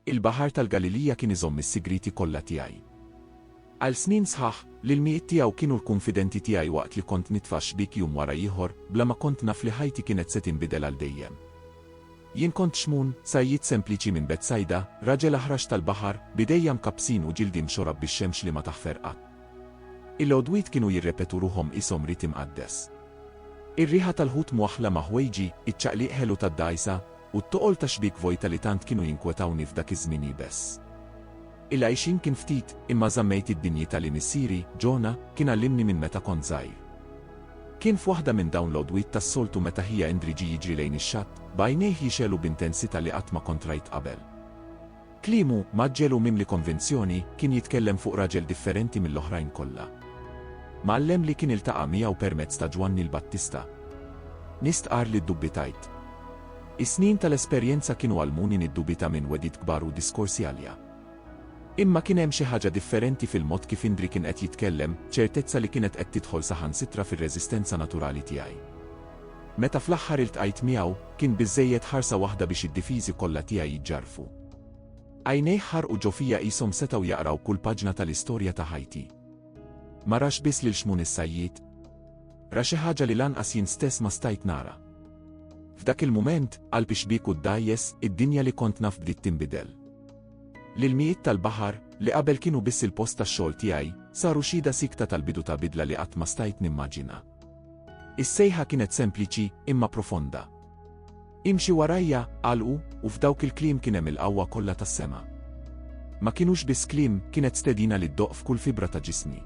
Il-Baħar tal-Galilija kien iżomm is-sigriti kollha tiegħi. Għal snin sħaħ, l-ilmijiet tiegħu kienu l-kunfidenti tiegħi waqt li kont nitfa' xbiek jum wara ieħor, bla ma kont naf li ħajti kienet se tinbidel għal dejjem. Jien kont Xmun, sajjied sempliċi minn Betsajda, raġel aħrax tal-baħar, b'idejja mkabbsin u ġildi mxorab bix-xemx li ma taħfer qatt. Il-għodwiet kienu jirrepetu ruħhom qishom rit imqaddes. Ir-riħa tal-ħut mwaħħla ma' ħwejġi, iċ-ċaqliq ħelu tad-dgħajsa, u t-toqol ta' xbiek vojta li tant kienu jinkwetawni f'dak iż-żmien iebes. Il-għixien kien ftit, imma żammejt id-dinjità li missieri, Jonah, kien għallimni minn meta kont żgħir. Kien f'waħda minn dawn l-għodwiet tas-soltu meta ħija Indri ġie jiġri lejn ix-xatt, b'għajnejh jixgħelu b'intensità li qatt ma kont rajt qabel. Kliemu, mgħaġġel u mimli konvinzjoni, kien jitkellem fuq raġel differenti mill-oħrajn kollha. Mgħallem li kien iltaqa' miegħu permezz ta' Ġwanni l-Battista. Nistqarr li ddubitajt. Is-snin tal-esperjenza kienu għallmuni niddubita minn wegħdiet kbar u diskorsi għalja. Imma kien hemm xi ħaġa differenti fil-mod kif Indri kien qed jitkellem, ċertezza li kienet qed tidħol saħansitra fir-reżistenza naturali tiegħi. Meta fl-aħħar iltqajt miegħu, kien biżżejjed ħarsa waħda biex id-difiżi kollha tiegħi jiġġarrfu. Għajnejh ħarqu ġo fija qishom setgħu jaqraw kull paġna tal-istorja ta' ħajti. Ma rax biss lil Xmun is-Sajjied. Ra xi ħaġa li lanqas jien stess ma stajt nara. F'dak il-mument, qalbi xbieku ddgħajjes, id-dinja li kont naf bdiet tinbidel. L-ilmijiet tal-baħar, li qabel kienu biss il-post tax-xogħol tiegħi, saru xhieda siekta tal-bidu ta' bidla li qatt ma stajt nimmaġina. Is-sejħa kienet sempliċi imma profonda. Imxi warajja, qal hu, u f'dawk il-kliem kien hemm il-qawwa kollha tas-sema. Ma kinux biss kliem, kienet stedina li ddoqq f'kull fibra ta' ġismi.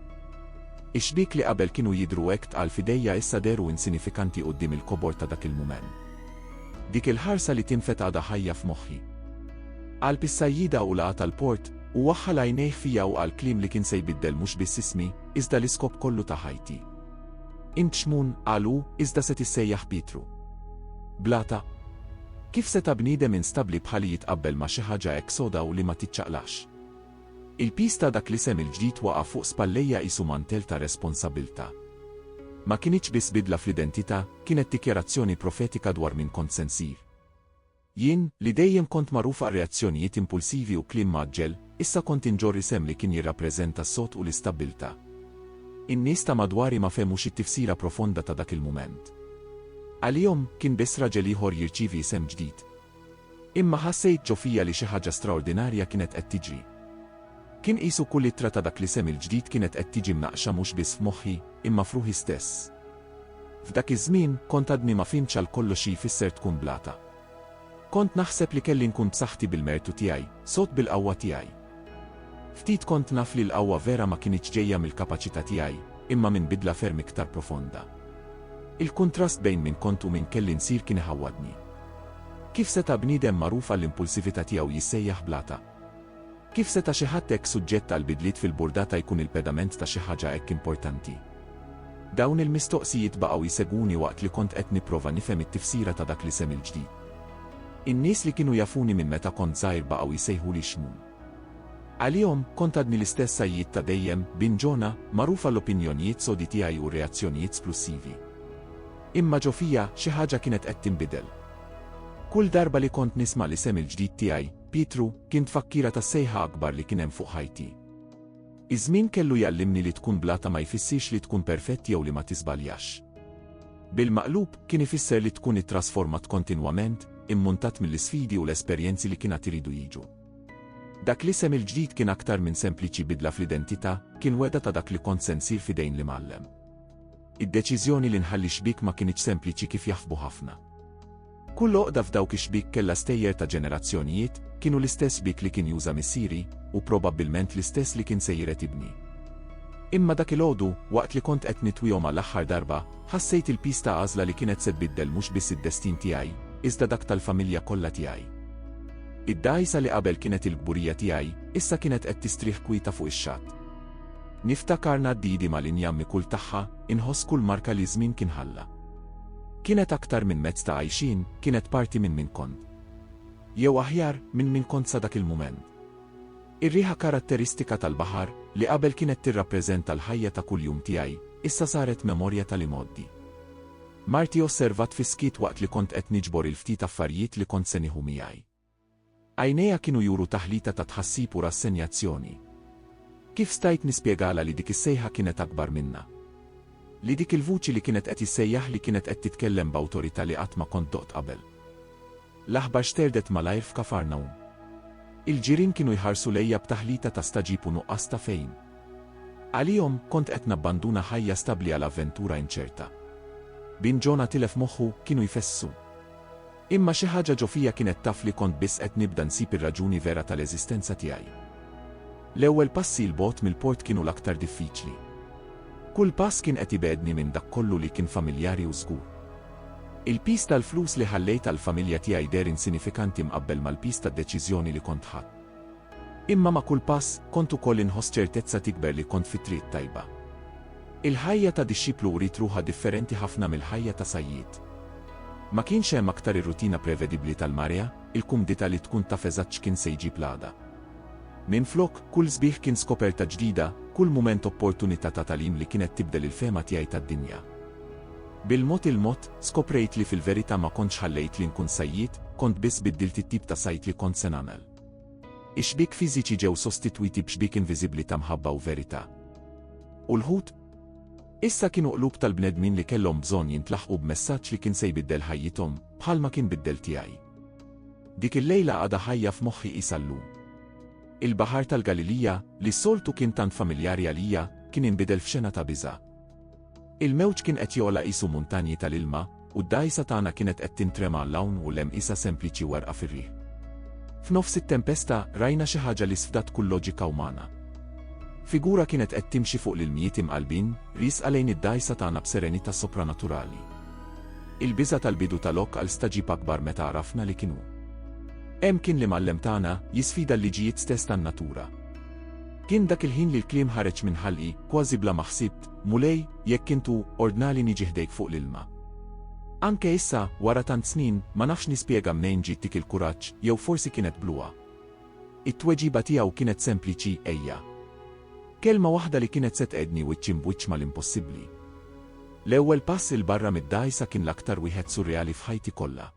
Ix-xbiek li qabel kienu jidhru hekk tqal f'idejja issa dehru insinifikanti quddiem il-kobor ta' dak il-mument. Dik il-ħarsa li tinfed għadha ħajja f'moħħi. Qalb is-sajjida u laqgħa tal-port, u waħħal għajnejh fija u qal kliem li kien se jbiddel mhux biss ismi, iżda l-iskop kollu ta' ħajti. Int Xmun, qal hu, iżda se tissejjaħ Pietru. Blata? Kif seta' bniedem instabbli bħali jitqabbel ma' xi ħaġa hekk soda u li ma tiċċaqlax? Il-piż ta' dak l-isem il-ġdid waqa' fuq spallejja qisu mantell ta' responsabbiltà. Ma kinitx biss bidla fl-identità, kienet dikjarazzjoni profetika dwar min kont se nsir. Jien, li dejjem kont magħruf għar-reazzjonijiet impulsivi u kliem mgħaġġel, issa kont inġorr isem li kien jirrappreżenta s-sod u l-istabbiltà. In-nies ta' madwari ma fehmux it-tifsira profonda ta' dak il-mument. Għalihom, kien biss raġel ieħor jirċievi isem ġdid. Imma ħassejt ġo fija li xi ħaġa straordinarja kienet qed tiġri. Kien qisu kull ittra ta' dak l-isem il-ġdid kienet qed tiġi mnaqqxa mhux biss f'moħħi, imma f'ruħi stess. F'dak iż-żmien, kont għadni ma fhimtx għal kollox xi jfisser tkun blata. Kont naħseb li kelli nkun b'saħħti bil-mertu tiegħi, sod bil-qawwa tiegħi. Ftit kont naf li l-qawwa vera ma kinitx ġejja mill-kapaċità tiegħi, imma minn bidla ferm iktar profonda. Il-kuntrast bejn min kont u min kelli nsir kien iħawwadni. Kif seta' bniedem magħruf għall-impulsività tiegħu jissejjaħ blata? Kif seta' xi ħadd hekk suġġett għal bidliet fil-burdata jkun il-pedament ta' xi ħaġa hekk importanti? Dawn il-mistoqsijiet baqgħu jsegwuni waqt li kont qed nipprova nifhem it-tifsira ta' dak l-isem il-ġdid. In-nies li kienu jafuni minn meta kont żgħir baqgħu jsejħuli Xmun. Għalihom, kont għadni l-istess Sajjied ta' dejjem, Bin Ġona, magħruf għall-opinjonijiet sodi tiegħi u r-reazzjonijiet splussivi. Imma ġo fija, xi ħaġa kienet qed tinbidel. Kull darba li kont nisma' l-isem il-ġdid tiegħi, Pietru, kien tfakkira tas-sejħa akbar li kien hemm fuq ħajti. Iż-żmien kellu jgħallimni li tkun bla ta' ma jfissirx li tkun perfett jew li ma tiżbaljax. Bil-maqlub, kien ifisser li tkun ittrasformat kontinwament, immuntat mill-isfidi u l-esperjenzi li kien għad iridu jiġu. Dak l-isem il-ġdid kien aktar minn sempliċi bidla fl-identità, kien wegħda ta' dak li kont se nsir f'idejn l-Imgħallem. Id-deċiżjoni li nħalli xbiek ma kinitx sempliċi kif jaħsbu ħafna. Kull għoqda f'dawk ix-xbiek kellha stejjer ta' ġenerazzjonijiet, kienu l-istess xbiek li kien juża missieri, u probabbilment l-istess li kien sejjer qed ibni. Imma dak il-għodu, waqt li kont qed nitwihom għall-aħħar darba, ħassejt il-piż ta' għażla li kienet se tbiddel mhux biss id-destin tiegħi, iżda dak tal-familja kollha tiegħi. Id-dgħajsa li qabel kienet il-kburija tiegħi, issa kienet qed tistrieħ kwieta fuq ix-xatt. Niftakar ngħaddidi mal-injammi kull tagħha, inħoss kull marka li ż-żmien kien ħalla. Kienet aktar minn mezz ta' għajxien, kienet parti minn min kont. Jew aħjar, minn min kont sa dak il-mument. Ir-riħa karatteristika tal-baħar, li qabel kienet tirrappreżenta l-ħajja ta' kuljum tiegħi, issa saret memorja tal-imgħoddi. Marti osservat fis-skiet waqt li kont qed niġbor il-ftit affarijiet li kont se nieħu miegħi. Għajnejha kienu juru taħlita ta' tħassib u rassenjazzjoni. Kif stajt nispjegalha li dik is-sejħa kienet akbar minnha? Li dik il-vuċi li kienet qed issejjaħli kienet qed titkellem b'awtorità li qatt ma kont doqt qabel? L-aħbar xterdet malajr f'Kafarnawm. Il-ġirien kienu jħarsu lejja b'taħlita ta' stagħġib u nuqqas ta' fehim. Għalihom, kont qed nabbanduna ħajja stabbli għal avventura inċerta. Bin Ġona tilef moħħu, kienu jfesssu. Imma xi ħaġa ġo fija kienet taf li kont biss qed nibda nsib ir-raġuni vera tal-eżistenza tiegħi. L-ewwel passi 'l bogħod mill-port kienu l-aktar diffiċli. Kull pass kien qed ibegħedni minn dak kollu li kien familjari u żgur. Il-piż tal-flus li ħallejt għall-familja tiegħi deher insinifikanti mqabbel mal-piż tad-deċiżjoni li kont ħadt. Imma ma' kull pass, kont ukoll inħoss ċertezza tikber li kont fit-triq tajba. Il-ħajja ta' dixxiplu uriet ruħha differenti ħafna mill-ħajja ta' sajjied. Ma kienx hemm aktar ir-rutina prevedibbli tal-marea, il-kumdità li tkun taf eżatt x'kien se jġib l-għada. Minflok, kull sbieħ kien skoperta ġdida, kull mument opportunità ta' tagħlim li kienet tibdel il-fehma tiegħi tad-dinja. Bil-mod il-mod, skoprejt li fil-verità ma kontx ħallejt li nkun sajjied, kont biss biddilt it-tip ta' sajd li kont se nagħmel. Ix-xbiek fiżiċi ġew sostitwiti b'xbiek inviżibbli ta' mħabba u verità. U l-ħut? Issa kienu qlub tal-bnedmin li kellhom bżonn jintlaħqu b'messaġġ li kien se jbiddel ħajjithom, bħalma kien biddel tiegħi. Dik il-lejla għadha ħajja f'moħħi qisha llum. Il-Baħar tal-Galilija, li s-soltu kien tant familjari għalija, kien inbidel f'xena ta' biża'. Il-mewġ kien qed jogħla qisu muntanji tal-ilma, u d-dgħajsa tagħna kienet qed tintrema 'l hawn u 'l hemm qisha sempliċi werqa fir-riħ. F'nofs it-tempesta, rajna xi ħaġa li sfdat kull loġika umana. Figura kienet qed timxi fuq l-ilmijiet imqallbin, riesqa lejn id-dgħajsa tagħna b'serenità sopranaturali. Il-biża' tal-bidu ta' lok għal stagħġib akbar meta għarafna li kien hu. Hemm kien l-Imgħallem tagħna, jisfida l-liġijiet stess tan-natura. Kien dak il-ħin li l-kliem ħareġ minn ħalqi, kważi bla ma ħsibt, Mulej, jekk int hu, ordnali niġi ħdejk fuq l-ilma. Anke issa, wara tant snin, ma nafx nispjega mnejn ġiet dik il-kuraġġ, jew forsi kienet bluha. It-tweġiba tiegħu kienet sempliċi, ejja. Kelma waħda li kienet se tqegħedni wiċċ imb'wiċċ mal-impossibbli. L-ewwel pass 'il barra mid-dgħajsa kien l-aktar wieħed surreali f'ħajti kollha.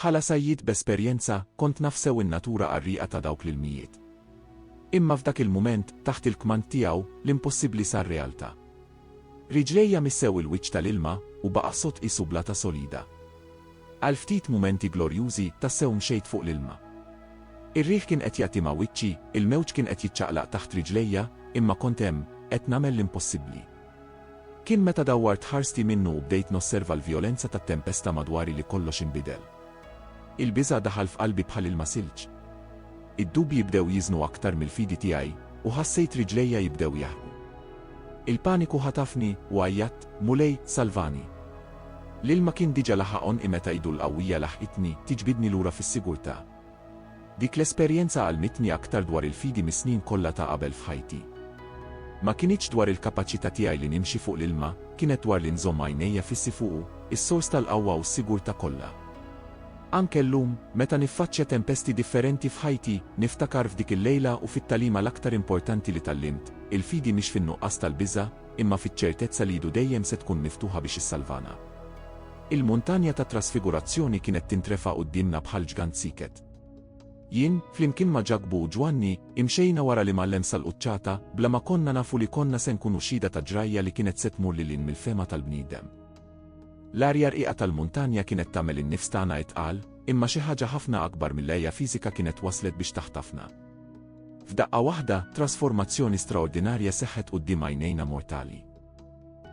Bħala sajjied b'esperjenza, kont naf sew in-natura qarrieqa ta' dawk l-ilmijiet. Imma f'dak il-mument, taħt il-kmand tiegħu, l-impossibbli sar realtà. Riġlejja missew il-wiċċ tal-ilma, u baqa' sod qisu blata solida. Għal ftit mumenti glorjużi, tassew mxejt fuq l-ilma. Ir-riħ kien qed jagħti ma' wiċċi, il-mewġ kien qed jiċċaqlaq taħt riġlejja, imma kont hemm, qed nagħmel l-impossibbli. Kien meta dawwart ħarsti minnu u bdejt nosserva l-vjolenza tat-tempesta madwari li kollox inbidel. Il-biża' daħal f'qalbi bħal ilma silġ. Id-dubji bdew jiżnu aktar mill-fidi tiegħi, u ħassejt riġlejja jibdew jaħrqu. Il-paniku ħatafni, u għajjatt, Mulej, salvani! L-ilma kien diġà laħaq għonqi meta idu l-qawwija laħqitni, tiġbidni lura fis-sigurtà. Dik l-esperjenza għallmitni aktar dwar il-fidi mis-snin kollha ta' qabel f'ħajti. Ma kinitx dwar il-kapaċità tiegħi li nimxi fuq l-ilma, kienet dwar li nżomm għajnejja fissi fuqu, is-sors tal-qawwa u s-sigurtà kollha. Anke llum, meta niffaċċja tempesti differenti f'ħajti, niftakar f'dik il-lejla u fit-tagħlima l-aktar importanti li tgħallimt, il-fidi mhix fin-nuqqas tal-biża', imma fiċ-ċertezza li idu dejjem se tkun miftuħa biex issalvana. Il-Muntanja tat-Trasfigurazzjoni kienet tintrefa' quddiemna bħal ġgant sieket. Jien, flimkien ma' Ġakbu u Ġwanni, imxejna wara l-Imgħallem sal-quċċata, bla ma konna nafu li konna se nkunu xhieda ta' ġrajja li kienet se tmur lil hinn mill-fehma tal-bniedem. L-arja rqiqa tal-muntanja kienet tagħmel in-nifs tagħna itqal, imma xi ħaġa ħafna akbar mill-għeja fiżika kienet waslet biex taħtafna. F'daqqa waħda, trasformazzjoni straordinarja seħħet quddiem għajnejna mortali.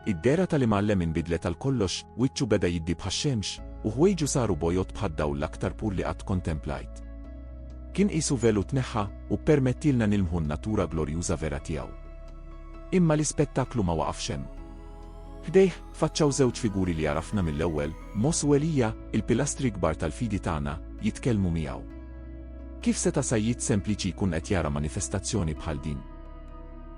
Id-dehra tal-Imgħallem inbidlet għal kollox, wiċċu beda jiddi bħax-xemx, u ħwejġu saru bojod bħad-dawl l-aktar pur li qatt kontemplajt. Kien qisu velu tneħħa u ppermettielna nilmħu n-natura glorjuża vera tiegħu. Imma l-ispettaklu ma waqafx hemm. Ħdejh, faċċaw żewġ figuri li għarafna mill-ewwel, Moss u Elija, il-pilastri kbar tal-fidi tagħna, jitkellmu miegħu. Kif seta' sajjied sempliċi jkun qed jara manifestazzjoni bħal din?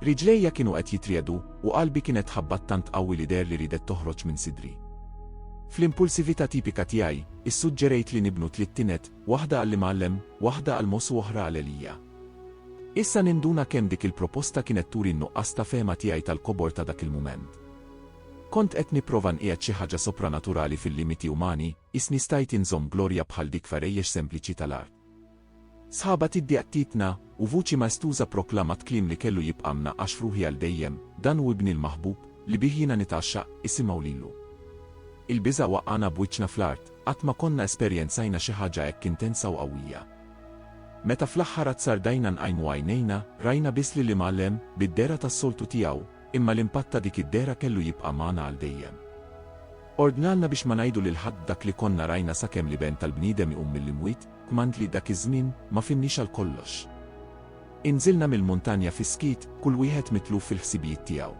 Riġlejja kienu qed jitriegħdu, u qalbi kienet tħabbat tant qawwi li deher li riedet toħroġ minn sidri. Fl-impulsività tipika tiegħi, issuġġerejt li nibnu tliet tined, waħda għall-Imgħallem, waħda għal Mossu oħra għal Elija. Issa ninduna kemm dik il-proposta kienet turi n-nuqqas ta' fehma tiegħi tal-kobor ta' dak il-mument. Kont qed nipprova nqiegħed xi ħaġa sopranaturali fil-limiti umani, Qisni stajt inżomm glorja bħal dik f'għarejjex sempliċi tal-art. Sħaba tiddi għattietna, u vuċi maestuża proklamat kliem li kellu jibqa' mnaqqax f'ruħi għal dejjem, Dan hu Ibni l-maħbub, li bih jiena nitgħaxxaq, isimgħu lilu. Il-biża' waqqagħna b'wiċċna fl-art, qatt ma konna esperjenzajna xi ħaġa hekk intensa u qawwija. Meta fl-aħħar azzardajna nqajmu għajnejna, rajna biss lill-Imgħallem, bid-dehra tas-soltu tiegħu, Imma l-impatt ta' dik id-dehra kellu jibqa' magħna għal dejjem. Ordnalna biex ma ngħidu lil ħadd dak li konna rajna sakemm l-Iben tal-bniedem iqum mill-imwiet, kmand li dak iż-żmien ma fhimniex għal kollox. Inżilna mill-muntanja fis-skiet, kull wieħed mitluf fil-ħsibijiet tiegħu.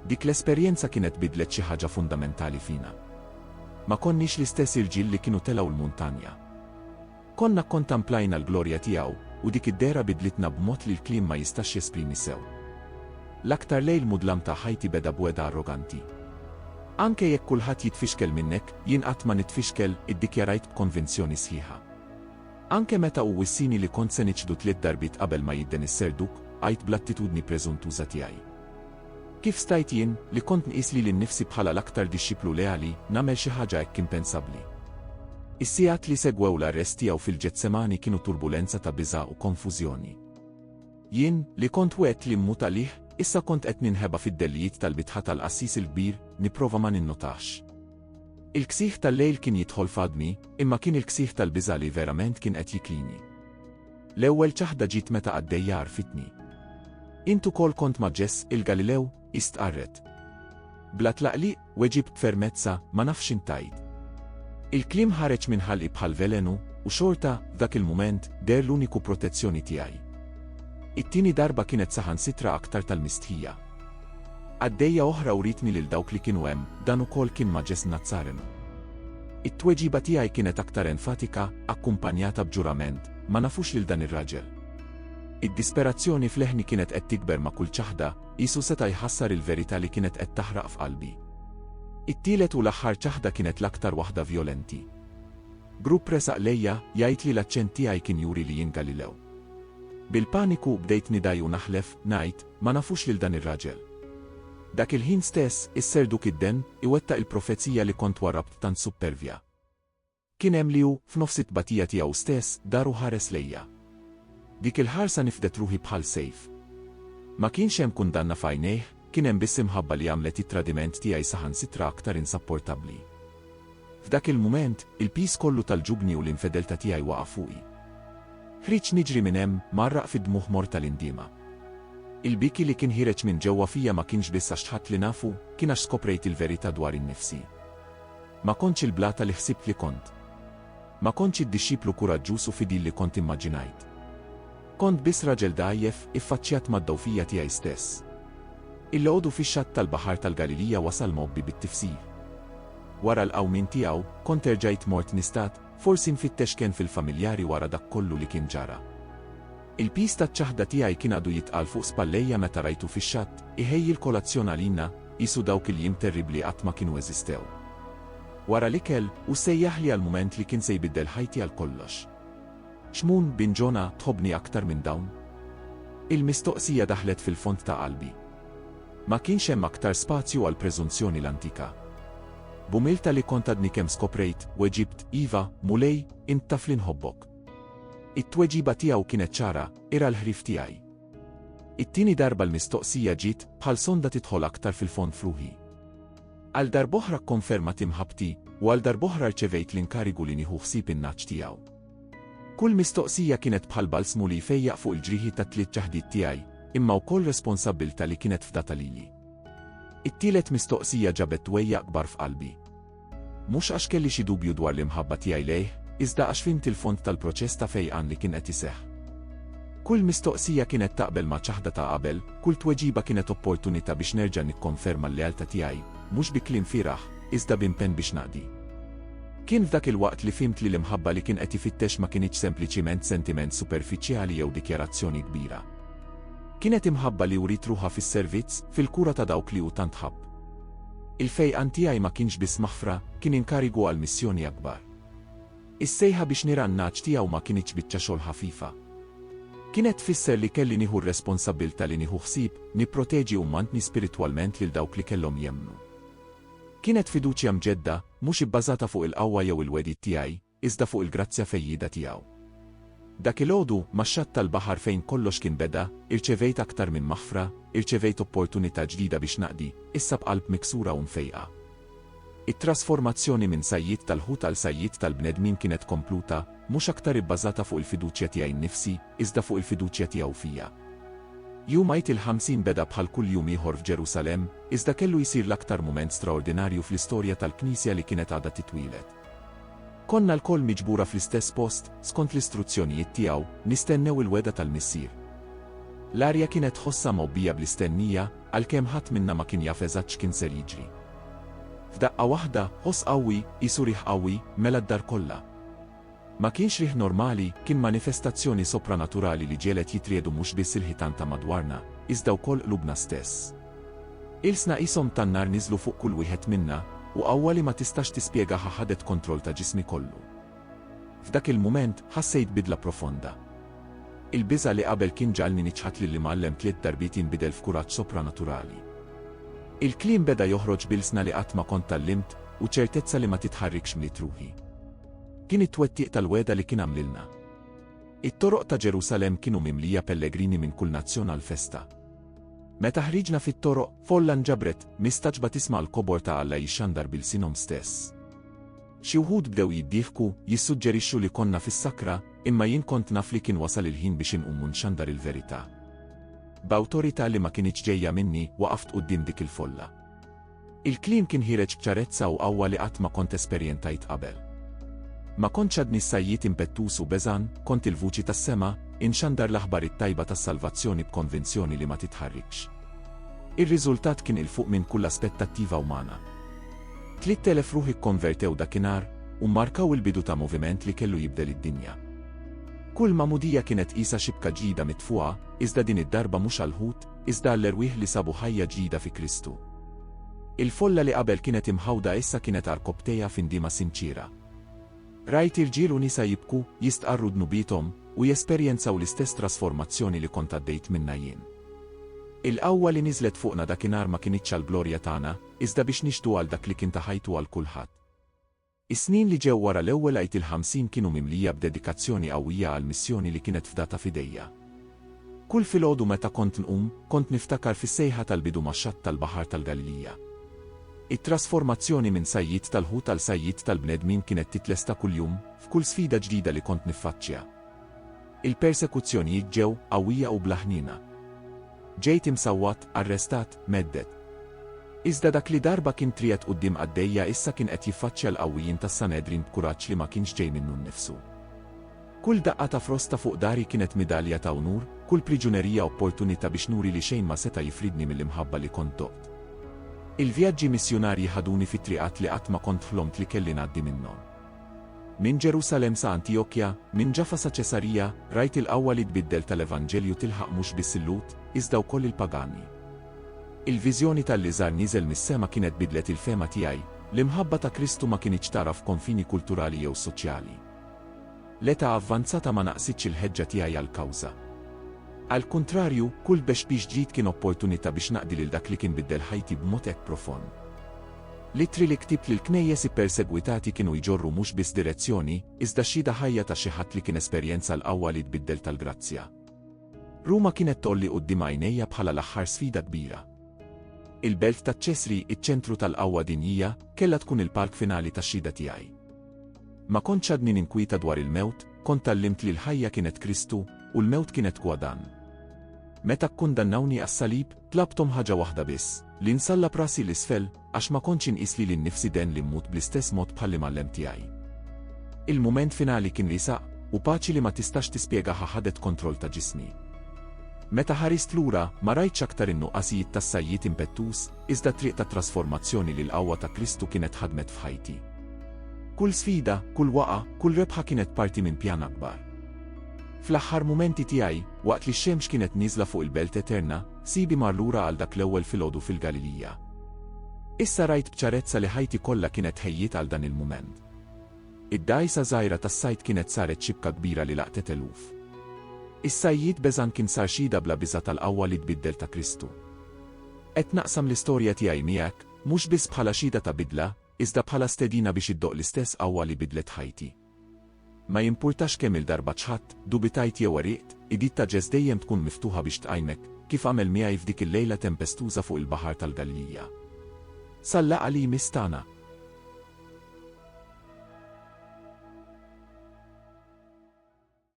Dik l-esperjenza kienet biddlet xi ħaġa fundamentali fina. Ma konniex l-istess irġiel li kienu telgħu l-muntanja. Konna kkontamplajna l-glorja tiegħu, u dik id-dehra bidlitna b'mod li l-kliem ma jistax jesprimi sew. L-aktar lejl mudlam ta' ħajti beda b'wegħda arroganti. Anke jekk kulħadd jitfixkel minnek, jien qatt ma nitfixkel, iddikjarajt b'konvinzjoni sħiħa. Anke meta hu wissini li kont se niċħdu tliet darbiet qabel ma jidden is-Serduk, għidt bl-attitudni preżuntuża tiegħi. Kif stajt jien, li kont nqis lili nnifsi bħala l-aktar dixxiplu leali, nagħmel xi ħaġa hekk impensabbli? Is-sigħat li segwew l-arrest tiegħu fil-Ġetsemani kienu turbulenza ta' biża' u konfużjoni. Jien, li kont wegħedt li mmut għalih, issa kont qed ninħeba fid-dellijiet tal-bitħa tal-qassis il-kbir, nipprova ma ninnotax. Il-ksieħ tal-lejl kien jidħol f'għadmi, imma kien il-ksieħ tal-biża' li verament kien qed jiklini. L-ewwel ċaħda ġiet meta qaddejja għarfitni. Int ukoll kont ma' Ġess il-Galilew? hi stqarret. Bla tlaqliq, weġibt b'fermezza, ma nafx int tgħid. Il-kliem ħareġ minn ħalqi bħal velenu, u xorta, f'dak il-mument, deher l-uniku protezzjoni tiegħi. It-tieni darba kienet saħansitra aktar tal-mistħija. Qaddejja oħra writni lil dawk li kienu hemm, dan ukoll kien ma' Jess Nazzarenu. It-tweġiba tiegħi kienet aktar enfatika, akkumpanjata b'ġurament, Ma nafux lil dan ir-raġel. Id-disperazzjoni f'leħni kienet qed tikber ma' kull ċaħda, qisu seta' jħassar il-verità li kienet qed taħraq f'qalbi. It-tielet u l-aħħar ċaħda kienet l-aktar waħda vjolenti. Grupp resaq lejja, jgħid li l-aċċent tiegħi kien juri li jien Galilew. Bil-paniku, bdejt nidgħi u naħlef, ngħid, Ma nafux lil dan ir-raġel. Dak il-ħin stess, is-Serduk id-Denn iwettaq il-profezija li kont wara b'tant suppervja. Kien hemm li hu, f'nofs it-tbatija tiegħu stess, dar u ħares lejja. Dik il-ħarsa nifdet ruħi bħal sejf. Ma kienx hemm kundanna f'għajnejh, kien hemm biss imħabba li għamlet it-tradiment tiegħi saħansitra aktar insapportabbli. F'dak il-mument, il-piż kollu tal-ġubni u l-infedeltà tiegħi waqa' fuqi. Ħriġt niġri minn hemm, mgħarraq fid-dmugħ mort tal-indiema. Il-bieki li kien ħiereġ minn ġewwa fija ma kienx biss għax tħadt li nafu, kien għax skoprejt il-verità dwari nnifsi. Ma kontx il-blata li ħsibt li kont. Ma kontx id-dixxiplu kuraġġuż u fidil li kont immaġinajt. Kont biss raġel dgħajjef, iffaċċjat mad-dgħufija tiegħi stess. Il-għodu fix-xatt tal-Baħar tal-Galilija wasal mgħobbi bit-tifsir. Wara l-qawmien tiegħu, kont erġajt mort nistat, forsi nfittex kenn fil-familjari wara dak kollu li kien ġara. Il-piż taċ-ċaħda tiegħi kien għadu jitqal fuq spallejja meta rajtu fix-xatt, iħejji l-kolazzjon għalina, qisu dawk il-jiem terribbli qatt ma kienu eżistew. Wara l-ikel, hu sejjaħli għal mument li kien se jbiddel ħajti għal kollox. Xmun, bin Ġona, tħobbni aktar minn dawn? Il-mistoqsija daħlet fil-fond ta' qalbi. Ma kienx hemm aktar spazju għal preżunzjoni l-antika. B'umilta li kont għadni kemm skoprejt, weġibt, Iva, Mulej, int taf li nħobbok. It-tweġiba tiegħu kienet ċara, ira l-ħrif tiegħi. It-tieni darba l-mistoqsija ġiet bħal sonda tidħol aktar fil-fond f'ruħi. Għal darb'oħra kkonfermat imħabbti u għal darb'oħra rċevejt l-inkarigu li nieħu ħsieb in-nagħaġ tiegħu. Kull mistoqsija kienet bħal balsmu li jfejjaq fuq il-ġrieħi tat-tliet ċaħdiet tiegħi, imma wkoll responsabbiltà li kienet fdata lili. It-tielet mistoqsija ġabet twejjaq kbar f'qalbi. Mhux għax kelli xi dubju dwar l-imħabba tiegħi lejh, iżda għax fimt il-fond tal-proċess ta' fejqan li kien qed iseħħ. Kull mistoqsija kienet taqbel ma' ċaħda ta' qabel, Kull tweġiba kienet opportunità biex nerġa' nikkonferma l-lealtà tiegħi, mhux bi kliem fieragħ, iżda b'impenn biex naqdi. Kien f'dak il-waqt li fhimt li l-imħabba li kien qed ifittex ma kinitx sempliċiment sentiment superfiċjali jew dikjarazzjoni kbira. Kienet imħabba li wriet ruħha fis-servizz, fil-kura ta' dawk li hu tant ħabb. Il-fejqan tiegħi ma kienx biss maħfra, kien inkarigu għal missjoni akbar. Is-sejħa biex nira n-nagħaġ tiegħu ma kinitx biċċa xogħol ħafifa. Kienet tfisser li kelli nieħu r-responsabbiltà li nieħu ħsieb, nipproteġi u mmantni spiritwalment lil dawk li kellhom jemmnu. Kienet fiduċja mġedda, mhux ibbażata fuq il-qawwa jew il-wegħdiet tiegħi, iżda fuq il-grazzja fejjieda tiegħu. Dak il-għodu, max-xatt tal-baħar fejn kollox kien beda, irċevejt aktar minn maħfra, irċevejt opportunità ġdida biex naqdi, issa b'qalb miksura u mfejqa. It-trasformazzjoni minn sajjied tal-ħut għal sajjied tal-bnedmin kienet kompluta, mhux aktar ibbażata fuq il-fiduċja tiegħi nnifsi, iżda fuq il-fiduċja tiegħu fija. Jum Għid il-Ħamsin beda bħal kull jum ieħor f'Ġerusalemm, iżda kellu jsir l-aktar mument straordinarju fl-istorja tal-Knisja li kienet għadha titwieled. Konna lkoll miġbura fl-istess post, skont l-istruzzjonijiet tiegħu, nistennew il-wegħda tal-Missier. L-arja kienet tħossha mgħobbija bl-istennija, Għalkemm ħadd minna ma kien jaf eżatt x'kien ser jiġri. F'daqqa waħda, ħoss qawwi, qisu riħ qawwi, mela d-dar kollha. Ma kienx riħ normali, kien manifestazzjoni sopranaturali li ġegħlet jitriegħdu mhux biss il-ħitan ta' madwarna, iżda wkoll qlubna stess. Ilsna qishom tan-nar niżlu fuq kull wieħed minna, u qawwa li ma tistax tispjegaha ħadet kontroll ta' ġismi kollu. F'dak il-mument ħassejt bidla profonda. Il-biża' li qabel kien ġagħalni niċħad lill-Imgħallem tliet darbiet jinbidel f'kuraġġ sopranaturali. Il-kliem beda joħroġ b'ilsna li qatt ma kont tgħallimt u ċertezza li ma titħarrikx mliet ruħi. Kien it-twettiq tal-wegħda li kien għamlilna. It-toroq ta' Ġerusalemm kienu mimlija pellegrini minn kull nazzjon għall-festa. Meta ħriġna fit-toroq, folla nġabret, mistaġba tisma' l-kobor ta' Alla jixxandar b'ilsienhom stess. Xi wħud bdew jiddieħku, jissuġġerixxu li konna fis-sakra, imma jien kont naf li kien wasal il-ħin biex inqum u nxandar il-verità. B'awtorità li ma kinitx ġejja minni, waqaft quddiem dik il-folla. Il-kliem kien ħiereġ b'ċarezza u qawwa li qatt ma kont esperjentajt qabel. Ma kontx għadni s-sajjied impettuż u beżgħan, kont il-vuċi tas-sema, inxandar l-aħbar it-tajba tas-salvazzjoni b'konvinzjoni li ma titħarrikx. Ir-riżultat kien 'il fuq minn kull aspettattiva umana. Tliet elef ruħ ikkonvertew dakinhar u mmarkaw il-bidu ta' moviment li kellu jibdel id-dinja. Kull magħmudija kienet qisha xibka ġdida mitfugħa, iżda din id-darba mhux għall-Lhud, iżda għall-erwieħ li sabu ħajja ġdida fi Kristu. Il-folla li qabel kienet imħawda issa kienet għal rkopptejha f'indiema sinċiera. Rajt irġiel u nisa jibku, jistqarru dnubiethom, u jesperjenzaw l-istess trasformazzjoni li kont għaddejt minnha jien. Il-qawwa li niżlet fuqna dakinhar ma kinitx għall-glorja tagħna, iżda biex nixhdu għal dak li kien ta' ħajtu għal kulħadd. Is-snin li ġew wara l-ewwel Għid il-Ħamsin kienu mimlija b'dedikazzjoni qawwija għall-missjoni li kienet fdata f'idejja. Kull filgħodu meta kont nqum, kont niftakar fis-sejħa tal-bidu max-xatt tal-Baħar tal-Galilija. It-trasformazzjoni minn sajjied tal-ħut għal sajjied tal-bnedmin kienet titlesta kuljum, f'kull sfida ġdida li kont niffaċċja. Il-persekuzzjonijiet ġew qawwija u bla ħniena. Ġejt imsawwat, arrestat, mhedded. Iżda dak li darba kien triegħed quddiem qaddejja issa kien qed jiffaċċja l-qawwijin tas-Sanedrin b'kuraġġ li ma kienx ġej minnu nnifsu. Kull daqqa ta' frosta fuq dari kienet midalja ta' unur, kull priġunerija opportunità biex nuri li xejn ma seta' jifridni mill-imħabba li kont doqt. Il-vjaġġi missjunarji ħaduni fi triqat li qatt ma kont ħlomt li kelli ngħaddi minnhom. Minn Ġerusalemm sa Antiokkja, minn Ġaffa sa Ċesarija, rajt il-qawwa li tbiddel tal-Evanġelju tilħaq mhux biss il-Lhud, iżda wkoll il-pagani. Il-viżjoni ta' li żar nieżel mis-sema kienet biddlet il-fehma tiegħi, l-imħabba ta' Kristu ma kinitx tagħraf konfini kulturali jew soċjali. L-età avvanzata ma naqqsitx il-ħeġġa tiegħi għall-kawża. Għall-kuntrarju, kull tbexbix ġdid kien opportunità biex naqdi lil dak li kien biddel ħajti b'mod hekk profond. L-ittri li ktibt lill-knejjes ippersegwitati kienu jġorru mhux biss direzzjoni, iżda xhieda ħajja ta' xi ħadd li kien esperjenza l-qawwa li tbiddel tal-grazzja. Ruma kienet tgħolli quddiem għajnejja bħala l-aħħar sfida kbira. Il-belt ta' Ċesri, iċ-ċentru tal-qawwa dinjija, kellha tkun il-palk finali tax-xhieda tiegħi. Ma kontx għadni ninkwieta dwar il-mewt, kont tgħallimt li l-ħajja kienet Kristu, u l-mewt kienet gwadann. Meta kkundannawni għas-salib, Tlabthom ħaġa waħda biss, li nsalla b'rasi 'l isfel, għax ma kontx inqis lili nnifsi denn li mmut bl-istess mod bħal Imgħallem tiegħi. Il-mument finali kien li saq, u paċi li ma tistax tispjegaha ħadet kontroll ta' ġismi. Meta ħarist lura, ma rajtx aktar in-nuqqasijiet tas-sajjied impettuż, iżda t-triq tat-trasformazzjoni li l-qawwa ta' Kristu kienet ħadmet f'ħajti. Kull sfida, kull waqgħa, kull rebħa kienet parti minn pjan akbar. Fl-aħħar mumenti tiegħi, Waqt li x-xemx kienet nieżla fuq il-belt eterna, Sidi mar lura għal dak l-ewwel filgħodu fil-Galilija. Issa rajt b'ċarezza li ħajti kollha kienet tħejjiet għal dan il-mument. Id-dgħajsa żgħira tas-sajd kienet saret xibka kbira li laqtet eluf. Is-sajjied beżgħan kien sar xhieda bla biża' tal-qawwa li tbiddel ta' Kristu. Qed naqsam l-istorja tiegħi miegħek, mhux biss bħala xhieda ta' bidla, iżda bħala stedina biex iddoqq l-istess qawwa li biddlet ħajti. Ma jimpurtax kemm-il darba ċħadt, dubitajt jew għeriqt, id-id ta' Ġess dejjem tkun miftuħa biex tqajmek, kif għamel miegħi f'dik il-lejla tempestuża fuq il-Baħar tal-Galilija. Sal-laqgħa li jmiss tagħna!